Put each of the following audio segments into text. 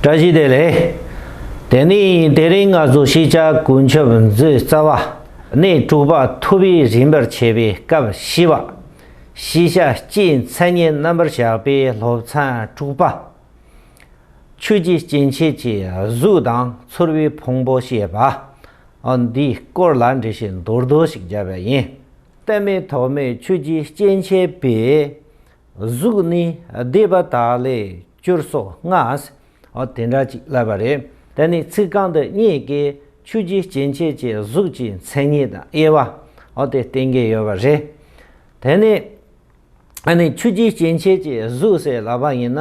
བཀྲ་ཤིས་བདེ་ལེགས། དེ་ནས་དེ་རིང་ང་ཚོ་ཤེས་བྱ་ཀུན་ཁྱབ་མཛོད་རྩ་བ་ནས་དྲུག་པ་ཐུབ་པའི་རིམ་པར་ཕྱེ་བའི་སྐབས་བཞི་བ། ཤེས་བྱ་སྤྱིའི་མཚན་ཉིད་རྣམ་པར་བཞག་པའི་སློབ་ཚན་དྲུག་པ། ཆོས་ཀྱི་སྐྱེ་མཆེད་ཀྱི་གཟུགས་དང་ཚོར་བའི་ཕུང་པོ་ཞེས་པ། འདིའི་སྐོར་ལ་འགྲེལ་བཤད་མདོར་བསྡུས་ཤིག་སྦྱར་བ་ཡིན། གཏན་མེད་ཐོགས་མེད་ཆོས་ཀྱི་སྐྱེ་མཆེད་པས། གཟུགས་ནི་བདེ་བ་དག་ལས་བསྐྱུར་སོགས་སྔགས། འོ་དེ་འདྲ་ཅིག་བསླབས་པ་རེད། དེ་ནི་ཚིག་རྐང་འདི་གཉིས་ཀས་ཆུ་རྒྱུས་སྐྱེ་མཆེད་ཀྱི་གཟུགས་ཀྱི་མཚན་ཉིད་དང་དབྱེ་བ། འོ་དེ་བསྟན་གྱི་ཡོད་པ་རེད། དེ་ནི། ཨ་ནི་ཆུ་རྒྱུས་སྐྱེ་མཆེད་ཀྱི་གཟུགས་ཟེར་ལབ་པ་ཡིན་ན།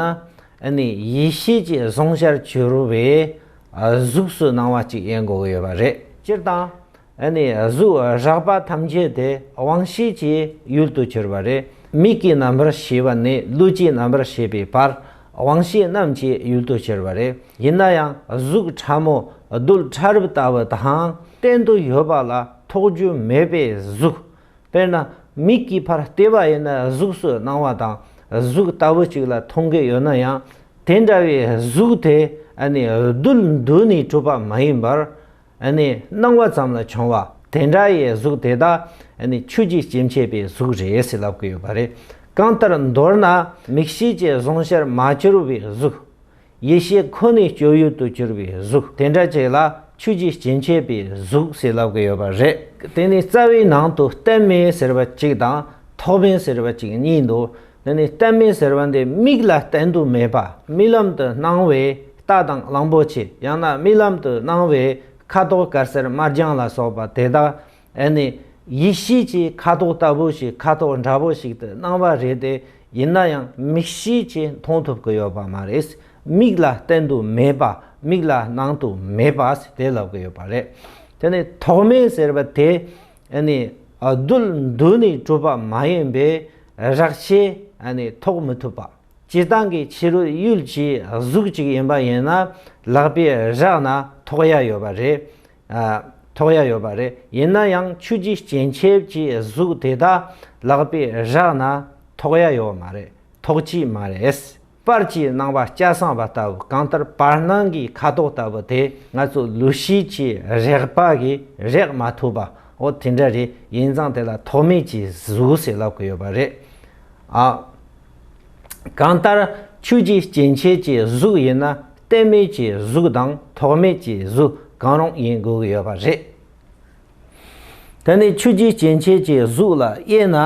ཨ་ནི་ཡེ་ཤེས་ཀྱི་གཟུངས་ཤར་གྱུར་བའི་གཟུགས་སུ་སྣང་བ་ཅིག་ཡིན་དགོས་ཀྱི་ཡོད་པ་རེད། སྤྱིར་བཏང། ཨ་ནི་གཟུགས་རགས་པ་ཐམས་ཅད་དེ་དབང་ཤེས་ཀྱི་ཡུལ་དུ་གྱུར་པ་རེ་མིག་གི་རྣམ་པར་ཤེས་པ་ནས་ལུས་ཀྱི་རྣམ་པར་ཤེས་པའི་བར་དབང་ཤེས་རྣམས་ཀྱི་ཡུལ་དུ་གྱུར་པ་རེ་ཡིན་ན་ཡང་གཟུགས་ཕྲ་མོ་རྡུལ་ཕྲ་རབ་ལྟ་བུ་དང་གཏན་དུ་ཡོད་པ་ལ་ཐོགས་རྒྱུ་མེད་པའི་གཟུགས། དཔེར་ན་མིག་གི་བར་ལྟེ་བ་ཡིན་ན་གཟུགས་སུ་སྣང་བ་དང་གཟུགས་ལྟ་བུ་ཅིག་ལ་མཐོང་གི་ཡོད་ན་ཡང་དེ་འདྲ་བའི་གཟུགས་དེ་ཨ་ནི་རྡུལ་འདུས་ནས་གྲུབ་པ་མ་ཡིན་པར། སྣང་བ་ཙམ་ལ་བྱུང་བ་དེ་འདྲ་ཡི་གཟུགས་དེ་དག་ཆུ་གཅིག་སྐྱེ་མཆེད་པའི་གཟུགས་རེད་ཟེར་ལབ་ཀྱི་ཡོད་པ་རེད། གང་ལྟར་མདོར་ན་མིག་ཤེས་ཀྱི་གཟུང་བཤར་མ་གྱུར་བའི་གཟུགས། ཡིད་ཤེས་ཁོ་ནའི་སྤྱོད་ཡུལ་དུ་གྱུར་བའི་གཟུགས་དེ་འདྲ་ཅིག་ལ་ཆུ་གཅིག་སྐྱེ་མཆེད་པའི་གཟུགས་ཟེར་ལབ་ཀྱི་ཡོད་པ་རེད། དེ་ནི་རྩ་བའི་ནང་དུ་གཏད་མེད་ཟེར་བ་གཅིག་དང་ཐོགས་མེད་ཟེར་བ་གཅིག་གཉིས་འདུག་འདི་ནི་གཏན་མེད་ཟེར་བ་འདི་མིག་ལ་བསྟན་དུ་མེད་པ་རྨི་ལམ་དུ་སྣང་བས་རྟ་དང་གླང་པོ་ཆེ་ཡང་ན་རྨི་ལམ་དུ་སྣང་བས་ཁ་དོག་དཀར་སེར་དམར་ལྗང་ལ་སོགས་པ་དེ་དག་ཨེ་ནི་ཡིད་ཤེས་ཀྱི་ཁ་དོག་ལྟ་བུ་ཞིག་ཁ་དོག་འདྲ་བོ་ཞིག་ཏུ་སྣང་བ་རེད་དེ་ཡིན་ན་ཡང་མིག་ཤེས་ཀྱིས་མཐོང་ཐུབ་ཀྱི་ཡོད་པ་མ་རེད་མིག་ལ་བསྟན་དུ་མེད་པ་མིག་ལ་སྣང་དུ་མེད་པ་དེ་ལབ་ཀྱི་ཡོད་པ་རེད་དེ་ནི་ཐོགས་མེད་ཟེར་བ་དེ་ནི་རྡུལ་འདུས་ནས་གྲུབ་པ་མ་ཡིན་པས་རགས་ཆད་ནི་ཐོགས་མི་ཐུབ་པ། སྤྱི་བཏང་གི་ཕྱི་རོལ་ཡུལ་གྱི་གཟུགས་གཅིག་ཡིན་པ་ཡིན་ན་ལག་པས་རགས་ན་ཐོགས་ཡ་ཡོད་པ་རེད། ཐོགས་ཡ་ཡོད་པ་རེད། ཡིན་ན་ཡང་ཆུ་རྒྱུས་སྐྱེན་ཆེབ་ཀྱི་གཟུགས་དེ་དག་ལག་པས་རགས་ན་ཐོགས་ཡ་ཡོད་མ་རེད་ཐོགས་ཀྱི་མ་རེད། པར་གྱིས་སྣང་བ་སྐྱ་སངས་པ་ལྟ་བུ་གང་ལྟར་བར་སྣང་གི་ཁ་དོག་ལྟ་བུ་དེ་ང་ཚོ་ལུས་ཤེས་ཀྱི་རེག་པ་གིས་རེག་མ་ཐུབ་པའོ་དེ་འདྲ་རེད་ཡིན་ཙང་དེ་ལ་ཐོགས་མེད་ཀྱི་གཟུགས་ཞེས་ལབ་གི་ཡོད་པ་རེད་ཨ། གང་ལྟར་ཆོས་ཀྱི་སྐྱེ་མཆེད་ཀྱི་གཟུགས་ཡིན་ན་བརྟན་མེད་ཀྱི་གཟུགས་དང་ཐོགས་མེད་ཀྱི་གཟུགས་གང་རུང་ཡིན་དགོས་ཀྱི་ཡོད་པ་རེད། དེ་ནི་ཆོས་ཀྱི་སྐྱེ་མཆེད་ཀྱི་གཟུགས་ལ་དབྱེ་ན།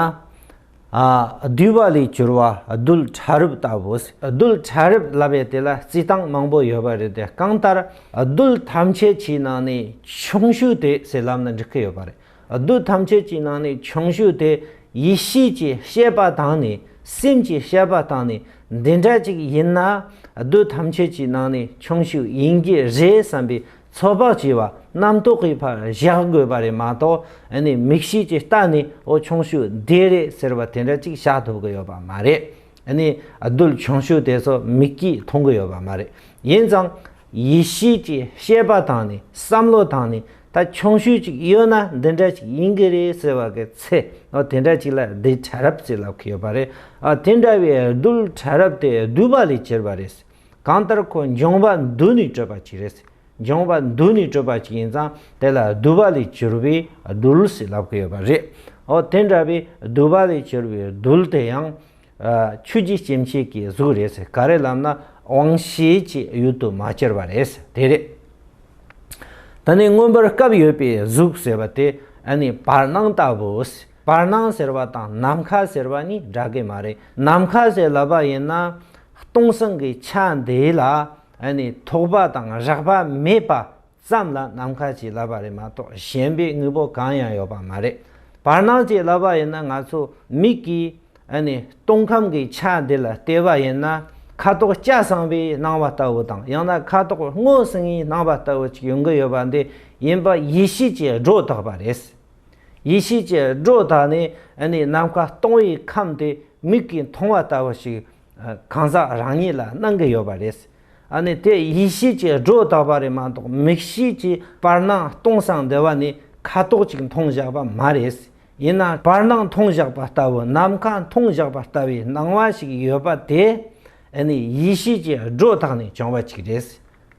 བསྡུས་པ་ལས་གྱུར་བ་རྡུལ་ཕྲ་རབ་ལྟ་བུ། རྡུལ་ཕྲ་རབ་ལབ་པའི་དེ་ལ་རྩི་སྟངས་མང་པོ་ཡོད་པ་རེད་དེ་གང་ལྟར་རྡུལ་ཐམས་ཅད་ཀྱི་ནང་ནས་ཆུང་ཤོས་དེ་སེར་ལམ་ལ་འགྲིག་གི་ཡོད་པ་རེད། རྡུལ་ཐམས་ཅད་ཀྱི་ནང་ནས་ཆུང་ཤོས་དེ་ཡིད་ཤེས་ཀྱི་ཤེས་པ་དང་ནི་སེམས་ཀྱི་ཤེས་པ་དང་ནི་འདི་འདྲ་ཅིག་ཡིན་ན་རྡུལ་ཐམས་ཅད་ཀྱི་ནང་ནས་ཆུང་ཤོས་ཡིན་གྱི་རེད་བསམ་པའི་ཚོད་དཔག་བྱས་པ་རྣམ་རྟོག་གི་བར་གཞག་དགོས་པ་རེད་མ་གཏོགས་ནི་མིག་ཤེས་ཀྱི་རྟགས་ནི་ཨོ་ཆུང་ཤོས་དེ་རེད་ཟེར་བ་དེ་འདྲ་ཅིག་བཞག་ཐུབ་ཀྱི་ཡོད་པ་མ་རེད། ནི་རྡུལ་ཆུང་ཤོས་དེ་ཚོ་མིག་གིས་མཐོང་གི་ཡོད་པ་མ་རེད། ཡིན་ཙང། ཡིད་ཤེས་ཀྱི་ཤེས་པ་དང་ནི་བསམ་བློ་དང་ནི་ད་ཆུང་ཤོས་ཅིག་ཡོད་ན་འདི་འདྲ་ཅིག་ཡིན་གྱི་རེད་ཟེར་བ་གི་ཚེ་ཨོ་དེ་འདྲ་ཅིག་ལ་རྡུལ་ཕྲ་རབ་ཟེར་ལབ་ཀྱི་ཡོད་པ་རེད། དེ་འདྲ་བའི་རྡུལ་ཕྲ་རབ་དེ་བསྡུས་པ་ལས་གྱུར་པ་རེད། གང་ལྟར་ཁོ་འབྱུང་བ་འདུལ་ནས་སྤྲོས་པ་གཅིག་རེད། འབྱུང་བ་འདུལ་ནས་སྤྲོས་པ་གཅིག་ཡིན་ཙང་དེ་ལ་བསྡུ་བ་ལས་གྱུར་པའི་རྡུལ་ཞེས་ལབ་ཀི་ཡོད་པ་རེད། འོ་དེ་འདྲ་བའི་བསྡུ་བ་ལས་གྱུར་པའི་རྡུལ་དེ་ཡང། ཆོས་རྒྱུད་སྐྱེ་མཆེད་ཀྱི་གཟུགས་རེད། ག་རེ་ལབ་ན་དབང་ཤེས་ཀྱི་ཡུལ་དུ་མ་གྱུར་པ་རེད། དེ་རེད། ད་ནི་མངོན་པར་སྐབས་ཡོད་པའི་གཟུགས་ཟེར་བ་དེ་ཨ་ནི་བར་སྣང་ལྟ་བུ། བར་སྣང་ཟེར་བ་དང་ནམ་མཁའ་ཟེར་བ་གཉིས་འདྲ་གི་མ་རེད། ནམ་མཁའ་ཞེས་ལབ་པ་ཡིན་ན། སྟོང་སངས་ཀྱི་ཆ་འདི་ལ་ཐོགས་པ་དང་རགས་པ་མེད་པ་ཙམ་ལ་ནམ་མཁའ་ཅེས་ལབ་པ་རེད་མ་གཏོགས་གཞན་པའི་དངོས་པོ་གང་ཡང་ཡོད་པ་མ་རེད། བར་སྣང་ཅེས་ལབ་པ་ཡིན་ན་ང་ཚོ་མིག་གིས་སྟོང་ཁམས་ཀྱི་ཆ་འདི་ལ་བལྟས་པ་ཡིན་ན་ཁ་དོག་སྐྱ་སངས་པའི་སྣང་བ་ལྟ་བུ་དང་ཡང་ན་ཁ་དོག་སྔོ་སིངའི་སྣང་བ་ལྟ་བུ་ཅིག་ཡོང་གི་ཡོད་པ་འདི་ཡིན་པ་ཡིད་ཤེས་ཀྱིས་སྒྲོ་བཏགས་པ་རེད། ཡེ་ཤེས་ཀྱི་སྒྲོ་དང་ནི་ནི་ནམ་མཁའ་སྟོང་བའི་ཁམས་དེ་མིག་གིས་མཐོང་བ་ལྟ་བུ་ཞིག་གང་ཟག་རང་ཉིད་ལ་སྣང་གི་ཡོད་པ་རེད། ཨ་ནི་དེ་ཡེ་ཤེས་ཀྱི་སྒྲོ་བཏགས་པ་རེད་མ་གཏོགས་མིག་ཤེས་ཀྱི་བར་སྣང་སྟོང་སང་འདི་བ་ནི་ཁ་དོག་ཅིག་མཐོང་བཞག་པ་མ་རེད། ཡིན་ན་བར་སྣང་མཐོང་བཞག་པ་ལྟ་བུ་ནམ་མཁའ་མཐོང་བཞག་པ་ལྟ་བུའི་སྣང་བ་ཞིག་ཡོད་པ་དེ་ནི་ཡེ་ཤེས་ཀྱི་སྒྲོ་དང་ནི་བྱུང་བ་ཅིག་རེད།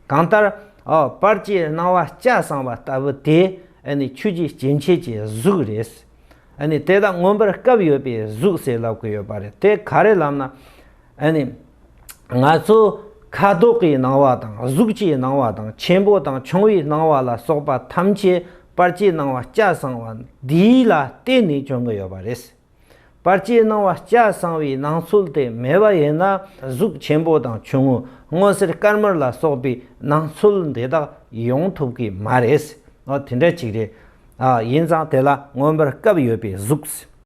གང་ལྟར། པར་སྐྱེས་སྣང་བ་སྐྱ་བསྲང་བ་ལྟ་བུ་དེ། ཆོས་ཀྱི་སྐྱེ་མཆེད་ཀྱི་གཟུགས་རེད། དེ་དག་མངོན་པར་སྐབས་ཡོད་པའི་གཟུགས་ཟེར་ལབ་གི་ཡོད་པ་རེད་དེ་ག་རེ་ལབ་ན། ང་ཚོ་ཁ་དོག་གི་སྣང་བ་དང་གཟུགས་ཀྱི་སྣང་བ་དང་ཆེན་པོ་དང་ཆུང་བའི་སྣང་བ་ལ་སོགས་པ་ཐམས་ཅད་པར་སྐྱེས་སྣང་བ་སྐྱ་བསྲང་བ་འདི་ལ་བརྟེན་ནས་བྱུང་གི་ཡོད་པ་རེད། པར་ཅིའི་སྣང་བ་སྐྱ་གསང་བའི་སྣང་ཚུལ་དེ་མེད་པ་ཡིན་ན་གཟུགས་ཆེན་པོ་དང་ཆུང་ངུ་སྔོ་སེར་དཀར་དམར་ལ་སོགས་པའི་སྣང་ཚུལ་འདི་དག་ཡོང་ཐུབ་ཀྱི་མ་རེད། དེ་འདྲ་ཅིག་རེད། ཡིན་ཙང་དེ་ལ་མངོན་པར་སྐབས་ཡོད་པའི་གཟུགས།